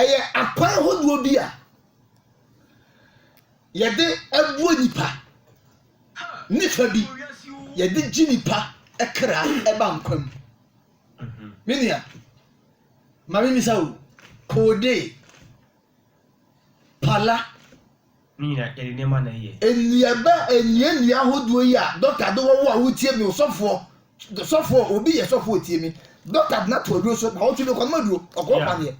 Ɛyɛ akwan hodoɔ bi a yɛde boa nipa ne fa bi yɛde gye nipa kra ɛba nkwa mu me nua ma me misa o koode Pala. Ne nyinaa yɛde nneɛma na ɛyɛ. Nnuaba nnua nnua ahodoɔ yi a dɔkta de wɔ wo a wotie mi ɔsɔfoɔ sɔfoɔ obi yɛ sɔfoɔ otie mi dɔkta de n'ato aduro so na ɔtwe mi kɔnoma aduro ɔkɔɔ paneɛ.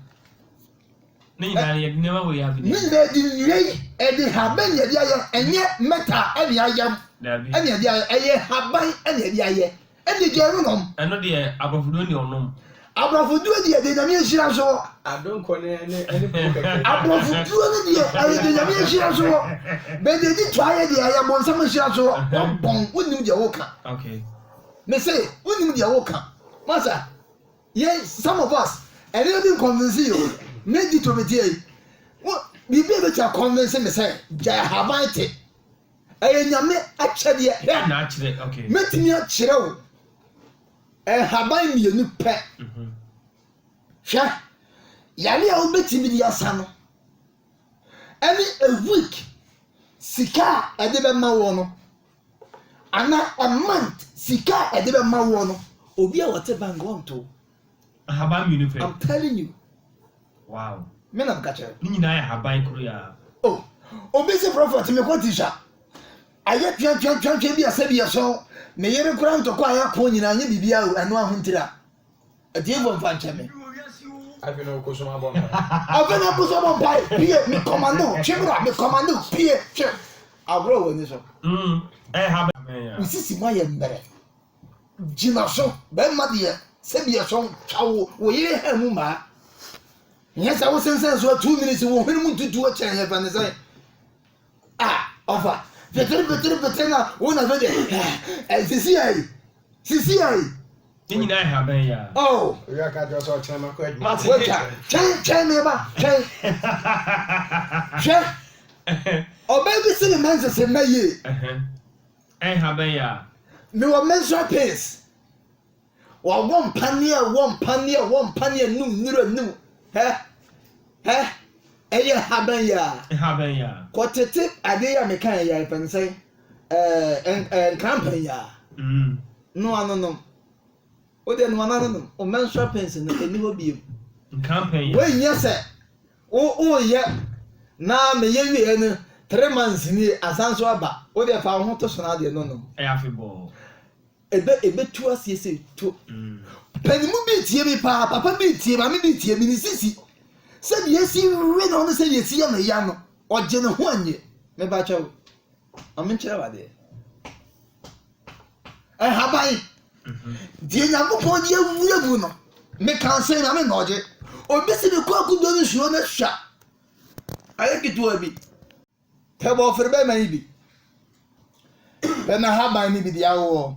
Ne nyinaa yɛde nneɛma wei abi na ɛyɛ. Ne nyinaa yɛde nnua yi ɛde haban na ɛde ayɛ ɛnyɛ mɛta ɛna ayam ɛna ɛde ayɛ ɛyɛ haban ɛna ɛde ayɛ. Ɛnde deɛ ɔrenom. Ɛno deɛ aborɔfo deɛ ɔnni ɔnom. Aborɔfo duro deɛ ɛde Nyame ahyira nso wɔ. Adonko ne ne ne po kɛkɛ. Aborɔfo duro no deɛ ɛde Nyame ahyira nso wɔ. But deɛ ɛdi twaayɛ deɛ ɛyɛ bonsam ahyira nso wɔ. Wabɔn, wonnim deɛ woka. Okay. Me se, wonnim deɛ woka. Masa, yɛn, some of us, ɛnneɛma bi nconvince yɛn o. Me Dito meteɛ yi, wo, biribi a ɛbɛtumi aconvince me sɛ gyae ahaban te. Ɛyɛ Nyame akyɛdeɛ. Dɛn na akyerɛ? Okay. Mɛtumi akyerɛ wo nhaban mmienu pɛ. Mhm. Hwɛ, yare a wobɛtumi de asa no, ɛne a week sika a ɛde bɛma wɔ no, anaa a month sika a ɛde bɛma wɔ no, obi a wɔte bank wɔnto. Ahaban mmienu pɛ. I'm telling you. Wow. Me na meka kyerɛ wo. Ne nyinaa yɛ ahaban koro yi ara. Oh, obi se prophet me kɔ tisha. Ayɛ twa twa twa twa bi asɛ bi ɛso. Me yere kora ntɔkwa ayɛ ako nyinaa nye bibi a o ɛno ahontira. Atiefo mfa nkyɛ me. Afi na ɔkɔ sum abɔ mpae. Afi na ɔkɔ sum abɔ mpae. Pie me commando twe bra me commando pie twe. Agorɔ wɔ ani so. Mm, ɛyɛ ahaban. Wo sisi mo ayɛ mmerɛ. Gyina so, bɛrima deɛ sɛ deɛ sɔn twa wo wo yere ha mu maa nyɛ sɛ wosensɛn so two minutes wo hwene mu ntutuo kyɛn yɛfɛ ne sɛn a ɔfa petiri petiri petiri na wo na fɛ deɛ sisi ayi sisi ayi ne nyinaa ɛha bɛn ya oh owia ka kyerɛ sɛ ɔkyerɛ ma kɔ adwuma wagya twɛn twɛn me ba twɛn hwɛ ɔbaa bi si ne ma nsese mma yie Ɛn ha bɛn ya. Me wɔ menstrual pains. Wa wɔ mpa ni ɛ wɔ mpa ni ɛ wɔ mpa ni ɛ num nira num hɛ hɛ ɛ yɛ ha bɛn ya. Ɛn ha bɛn ya. Kɔ tete adeɛ ya me kan ɛ ya ɛ pɛn sɛn ɛɛ ɛ nkran pɛn ya. Mm. Noa no nom. Wo deɛ noa no ano nom. Wo menstrual pains no ɛni hɔ biem. Nkran pɛn ya. Wei nyɛ sɛ Wo woyɛ na me yɛ wieɛ no three months nie asan so aba wo deɛ fa wo ho to so na adeɛ no no. Ɛyɛ afe bɔɔ. Ɛbɛ ɛbɛ tu aseɛ sɛ to. Pɛn mu bi tie mi paa papa bi tie maame bi tie mi ne sisi sɛ deɛ ɛsi we no ne sɛ deɛ ɛsi yɛ no ya no ɔgye ne ho anyɛ me ba kyɛw maame nkyerɛ wo adeɛ. Nhaban deɛ Nyankopɔn deɛ wura mu no, meka sɛ Nyame na ɔgye. Obi si me kɔ akudo no suro no hwa. Ayɛ ketewa bi. Tɛ bɔ ɔfere bɛma yi bi. Bɛma haban ni bi deɛ awowɔ.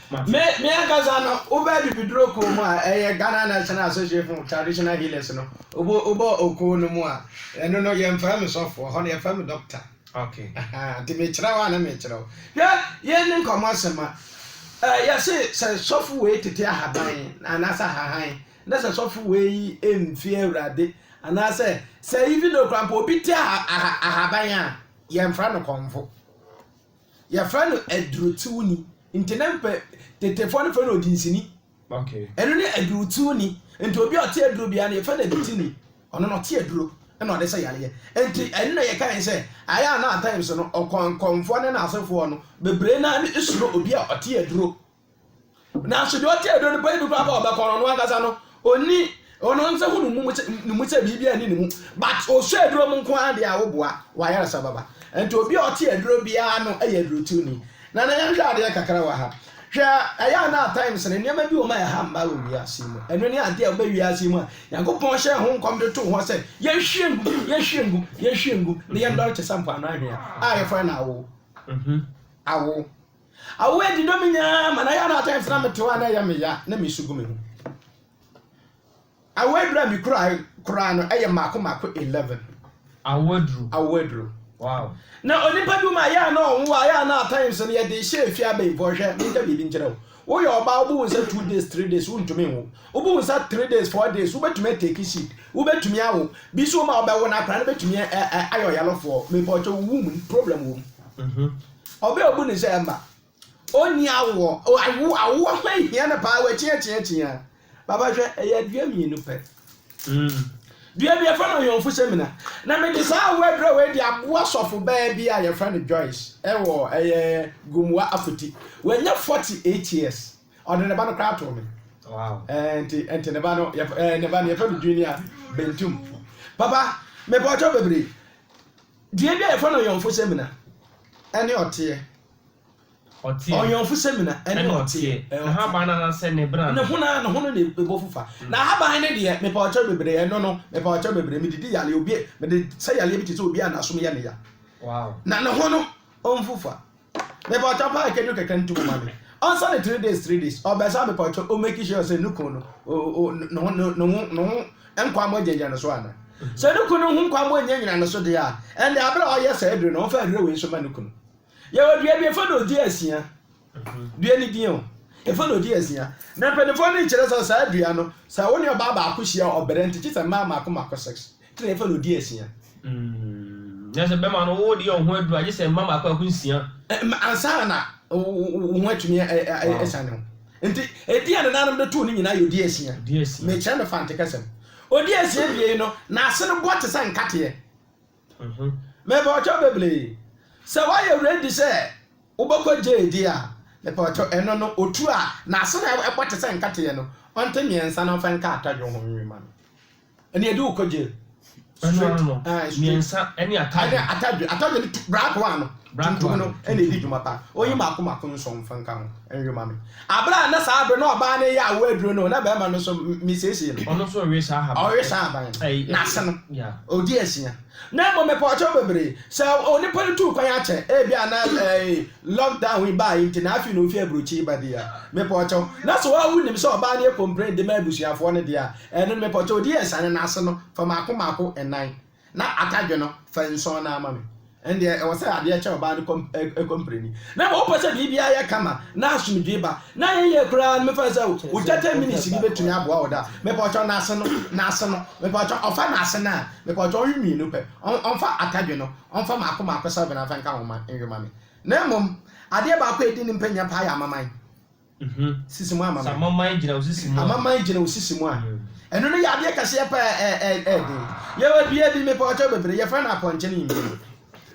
Me me ankasa no, wobaa bibiduro kuo mu a, ɛyɛ Ghana National Association of Traditional Healers no, wobɔ wobɔ okuo no mu a, ɛno no yɛmfrɛ me sɔfoɔ, hɔ no yɛfrɛ me doctor. Okay. Ahaa, nti mekyerɛ wo a na mekyerɛ wo. Hwɛ, yɛn ne nkɔmmɔ asɛm a, ɛ, yɛse sɛ sɔfo wei tete ahaban anaasɛ ahahan, na sɛ sɔfo wei mfie awurade, anaasɛ sɛ even though koraa mpo obi te aha, aha, ahaban a, yɛmfrɛ no kɔmfo. Yɛfrɛ no adurutiwni. Nti na mpɛ tetefoɔ no frɛ no odinsini. Okay. Ɛno ne adurutiwni. Nti obi a ɔte aduro biara no yɛfrɛ no adutini. Ɔno na ɔte aduro na ɔde sɛ yareɛ. Nti ɛno na yɛkae sɛ ayɛ a na at times no ɔkɔnkɔnfoɔ ne n'asefoɔ no bebree no ara no suro obi a ɔte aduro Nanso deɛ ɔte aduro no pɛ yi bi koraa ɔbɛkɔ no ɔno ankasa no ɔni ɔno nsa hu ne mu sɛ biribi ani ne mu but ɔsɔ aduro mu nko ara deɛ a woboa wayaresa baba nti obi a ɔte aduro biara no yɛ adurotuni na na yɛnhwɛ adeɛ kakra wɔ ha hwɛ ɛyɛ a na at times no nneɛma bi wɔ ma ɛha mma wɔ wiase mu ɛno ne adeɛ a wobɛ wiase mu a nyankopɔn hyɛ ho nkɔm de too hɔ sɛ yɛnhwie ngu yɛnhwie ngu yɛnhwie ngu ne yɛndɔre te sɛ mpoano ahwea a yɛfrɛ no awo awo Awo adi dɔ me nyinaa ma na yɛ na atɛn fena me toa na ɛyɛ me ya na me su gu me ho. Awo adura me kura koraa no ɛyɛ mako mako 11. Awo aduru. Awo aduru. Wow. Na onipa bi ma yɛ na ɔnwo a yɛ na atɛn nso no yɛ de hyɛ efi abɛn fo hwɛ me nka biribi nkyerɛ wo. Wo yɛ ɔbaa wo bu wo nsa 2 days 3 days wo ntumi nwo. Wo bu wo nsa 3 days 4 days wo bɛtumi ateki seed. Wo bɛtumi awo. Bi so wo ma ɔbɛwo no akora no bɛtumi ayɛ ɔyalofoɔ. Me pɔtɔ wo wom problem wom. Ɔbɛ obu ne sɛ ɛmma ɔnni awoɔ. O awo awoɔ ho ahia no paa wɔakyiakyiakyia. Papa hwɛ ɛyɛ adua mmienu pɛ. Mm. Dua bi yɛfrɛ no ɔyɔnfo sɛmina. Na mede saa awoɔ adura wei de aboa sɔfo baa bi a yɛfrɛ no Joyce ɛwɔ ɛyɛ Gomoa Afoti. Wanya 48 years. Ɔde ne ba no koraa too me. Wow. Ɛɛ nti nti ne ba no yɛf ɛɛ ne ba no yɛfrɛ no Junior Bentum. Papa mepɔtɔ bebree. Dua bi a yɛfrɛ no ɔyɔnfo samina ne ɔteɛ. Ɔteɛ. Ɔyɔnfo samina ne ɔteɛ. Ne haban no anaasɛ ne bena no. Ne hono a, ne hono na ɛbɔ fu fa. Na ahaban no deɛ, mepɛ ɔkyɛw bebree, ɛno no, mepɛ ɔkyɛw bebree, mede di yareɛ, obi, mede sa yareɛ bi te sɛ obi a n'asom yɛ no ya. Wow. Na ne hono ɔmfu fa. Mepatwɔ paa kedu kɛkɛ nto mu ma me. Ɔnsa ne three days three days. Ɔbɛsa mepatwɔ o make sure sɛ ne kun no o o ne ho ne ho ne ho nkwammɔ gyinagyina ne so ana. Sɛ ne kun no ho nkwammɔ nyinagyina ne so deɛ a ɛnde abere a ɔyɛ saa aduro no ɔmfa aduro wei nso ma ne kunu. Yɛwɔ dua bi efa na odi asia. Dua ne din o. Efa na odi asia. Na mpanimfoɔ no kyerɛ sɛ saa dua no sɛ wo ne ɔbaa baako hyia ɔbrɛ nti kyi sɛ mmaa mako mako six. Te na yɛfa no di asia. Mm, na sɛ bɛma no wo deɛ ɔho aduru agye sɛ mma mmaako ako nsia. Ɛma ansa na wo ho atumi ɛsa ne ho. Nti ɛdi a nananom de too ne nyinaa yɛ odi asia. Mekyerɛ me fante kasam. Odi asia bie yi no, n'ase no bɔ te sɛ nkateɛ. Mhm. Mepawɔtɔ bebree. Sɛ woayɛ ready sɛ wobɛkɔ gye adi a, mepawɔtɔ ɛno no, otuo a n'ase no ɛbɔ te sɛ nkateɛ no, ɔnte mmiɛnsa na ɔmfa nka atadwo ho nwi ma no. Ɛnna yɛde wo kɔ jail. Ɛno ara no, mmiɛnsa ne atadwe. Ɛne atadwe. Atadwe no black one no, tuntum no, ɛna ɛdi dwuma paa. Ɔnyi mako mako nson mfa nka ho nwe ma me. Abere a na saa abere na ɔbaa no yɛ awo aduro no, na barima no nso mesiesie no. Ɔno nso rewe saa ahaban. Ɔrewe saa ahaban no. N'ase no, ɔdi asia. Na mmom mepɛ ɔkyɛw bebree. Sɛ onipa no tuu kwan akyɛ, ebi a na ɛɛ lockdown yi baa yi nti na afei na ofi aburokyi ba deɛ a, mepɛ ɔkyɛw. Na sɛ wonim sɛ ɔbaa no yɛ complain de ma abusuafoɔ no deɛ a, Ɛno no, mepɛ kyɛ odi asiane no ase no fa mmaako mmaako nnan, na atadwe no, fa nson no ara ma me. Ɛnde, ɛwɔ sɛ adeɛ kyɛ ɔbaa no kɔmpreni. Na ma wopɛ sɛ biribiara yɛ kama na asomdwoe ba. Na ɛyɛ yie koraa no, mefɛre sɛ wo gyata minisi bi bɛtumi aboa wo da. Mepɛ kyɛ n'ase no, n'ase no, mepɛ kyɛ ɔfa n'ase no a, mepɛ kyɛ ɔnwe mmienu pɛ. Ɔmfa atadwe no, ɔmfa mmaako mmaako sɛvena mfa nka ho mma nwe ma me. Na mmom, adeɛ baako a ɛdi ne mpɛ nyɛ paa yɛ amaman. sisi mu ama me. Sɛ amanaman gyina wo sisi mu a. Amanaman gyina wo sisi mu a. Ɛno no yɛ adeɛ kɛseɛ paa a ɛyɛ den. Yɛwɔ dua bi, mepɔɔkyɛw bebree, yɛfrɛ no apɔnkye ne mbiem.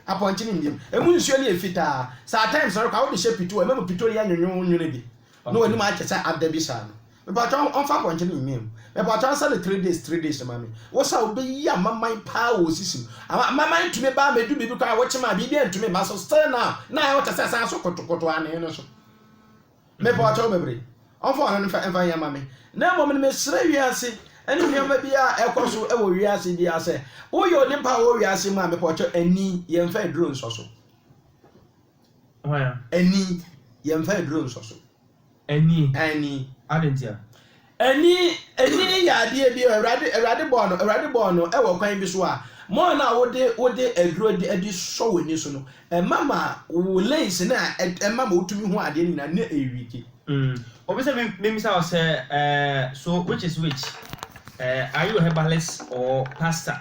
Apɔnkye ne mbiem. Ɛmu nsuo no yɛ fitaa. Sɛ at times no koraa wode hyɛ pito a, ɛma mu pito no yɛ nwonwonwone bi. Na w'anim ayɛ te sɛ adɛ bi saa no. Mepɔɔkyɛw ɔmfa apɔnkye ne mbiem. Mepɔɔkyɛw ɔnsa no three days three days mma me. Wo sa wobɛyi amanaman paa wɔ wo sisi mu. Amanaman tumi ba a, mɛdu biribi koraa a, wokyem a, biribi antumi mma so. Still now, na ayɛ wo te sɛ saa so kotokoto anee no so. Mebɔɔ kyɛw bebree. Ɔmfa ɔno mfa mfa nyɛ mma me. Na mmom no, mesrɛ wiase ne nneɛma biara a ɛkɔ so wɔ wiase biara sɛ, woyɛ onipa a ɔwɔ wiase mu a, mebɔɔ kyɛw, ani, yɛmfa aduro nsɔ so. Ani, yɛmfa aduro nsɔ so. Ani. Ani. Adɛn ntia? Ani, ani yɛ adeɛ bi a Awurade, Awurade bɔɔ no, Awurade bɔɔ no wɔ kwan bi so a, mɔɔ no a wode, wode aduro de, de sɔ w'ani so no, ɛma ma wo lens no a ɛd, ɛma ma wotumi hu adeɛ no nyinaa na ɛwiki. Mm, obi sɛ me, memmisa wo sɛ, eh, so which is which, eh, are you a herbalist or pastor?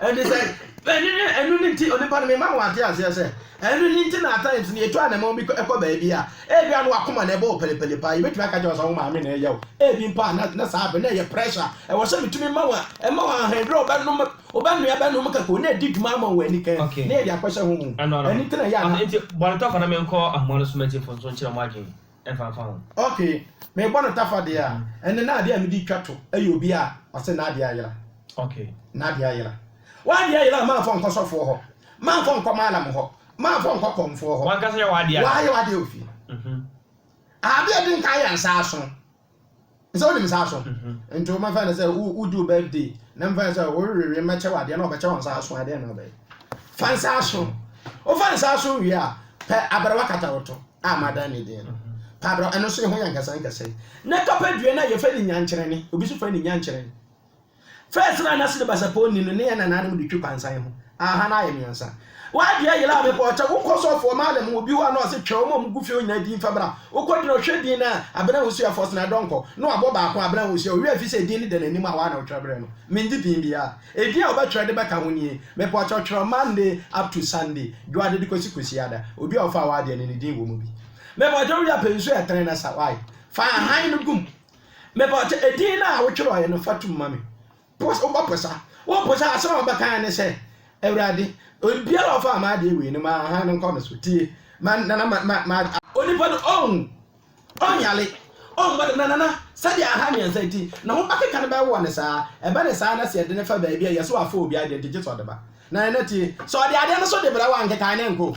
Ɛnde sɛ ɛno ne ɛno ne nti onipa no mema mo ate aseɛ sɛ ɛno ne nti na at times no yɛtu anamɔn bi kɔ kɔ baabi a ebia na wakoma na ɛbɔ wo pɛlepɛle paa yɛbɛtumi aka kyerɛ wo sɛ wo maame na ɛyɛ wo ebi mpo a na na saa bɛ na ɛyɛ pressure ɛwɔ sɛ metumi ma wo ɛma wo ahandwerɛ wobɛnom wobɛnoa bɛnom kakao na ɛdi dwuma ama wo anika okay. na yɛde akɔhyɛ ho ɛno nti na ɛyɛ a na. Nti bɔnetɔfo na menkɔ ahoma no so mɛgye mfomso nkyerɛ mo adwene. ɛmfamfa ho. Ok, mebɔ no tafa deɛ a, ɛnde na adeɛ a mede retwa to yɛ obi a ɔse n'adeɛ ayera. Ok. N'adeɛ ayera. W'adeɛ ayera a mamfa wo nkɔ sɔfoɔ hɔ, mamfa wo nkɔ Mallam hɔ, mamfa wo nkɔ kɔmfoɔ hɔ. W'ankasa yɛ w'adeɛ ayera. W'ayɛ w'adeɛ wɔ fie. Adeɛ a ɛdi nkan yɛ nsa aso. Sɛ wonim saa so nti wo mɛfa no sɛ wodi wo birthday na mfa no sɛ worewewe mɛkyɛ wadeɛ na ɔbɛkyɛ wo nsa so adeɛ na ɔbɛyɛ fa nsa so wofa nsa so wie a pɛ aberewa kata wo to a madan ne din no pɛ aberewa ɛno so yɛ ho yɛ nkɛsɛ nkɛsɛ na tɔpɛ dua no a yɛfɛ ne nyankyerɛne obi so fɛ ne nyankyerɛne First na nase ne basapɔn nni no ne yɛn nananom de twi kwansan ho aaha na ayɛ miɛnsa w'adeɛ yela a bepɔ ɔkyɛ wokɔ sɔfoɔ maala mu obi hɔ a na ɔse twɛ wɔn a wɔn gu fie hɔ nyinaa din fa bra wokɔ din ɔhwɛ din na abena wosua first na dɔnkɔ na wabɔ baako abena wosua ɔwia fi sɛ din ne da n'anim a waa na wotwerɛ brɛ no mengye din biaa edin a wobɛtwerɛ de bɛka ho nie mepɔ ɔkyɛ twerɛ Monday up to Sunday dwoade de kɔsi kwasiada obi a ɔfaa w'adeɛ no ne din wɔ mu bi mepɔ ɔkyɛ wowia pɛ nsuo ɛtene na sa wae fa ahan no gum Mebɔtse edin no a wotwerɛe no fa tum ma me. Pos, wobɔposa. Woposa a, asɛm a wɔbɛka ara ne sɛ, Awurade, obiara a ɔfaa m'adeɛ wei no, ma hann no nkɔ no so. Tie, ma nana, ma, ma, ma. Onipa no ɔnwu, ɔnyare, ɔmmɔ dam, na nana, sɛdeɛ hann mmiɛnsa nti, ne ho bɛkeka no bɛwowɔ no saa. Ɛba no saa na sɛ yɛde no fa baabi a, yɛse wafa obi adeɛ nti gye sɛ ɔde ba. Na nana tie, sɛ ɔde adeɛ no so de brɛ wo a, nkekaeɛ no nnkɔ o.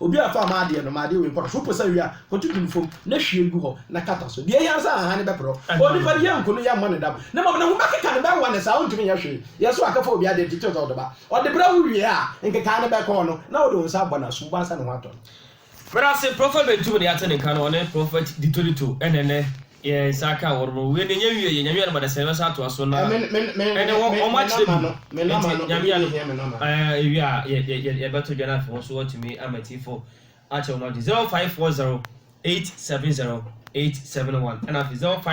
Obiara mfa mma adeɛ no, ma adeɛ wei nkɔ no so. Wopɛ sɛ ɔwe a, kɔtutu no fam na hwie gu hɔ na kata so. Deɛ ɛhia ne sɛ ahahan no bɛporɔ. Onipa deɛ nku no, yɛmmɔ no dam. Na mmom ne ho bɛkeka no, bɛwa no saa a ɔntumi nyɛ hwee. Yɛn so akɛfa obi adeɛ titiriw sɛ ɔdɔba. Ɔde brɛ wo wie a, nkekaeɛ no bɛkɔ hɔ no, na wode wo nsa abɔ no asum, woansa ne ho atɔ no. Brɛ ase, Prɔfɛt Bentum ne yɛate ne nka no, ɔne Prɔfɛt Ditto Ditto ɛne nnɛ Yɛn nsa aka awɔw no, wei deɛ yɛn wie yɛ, Nyame adom a dasani bɛsan atoa so na ɛnɛ wɔ wɔn akyerɛ bi, nti Nyame adom ɛɛ ewie a yɛ yɛ yɛ yɛbɛto dwa na afei wɔn so wɔatumi ama atiefo akyɛ wɔn ade, zero five four zero eight seven zero eight seven one ɛna afei zero five.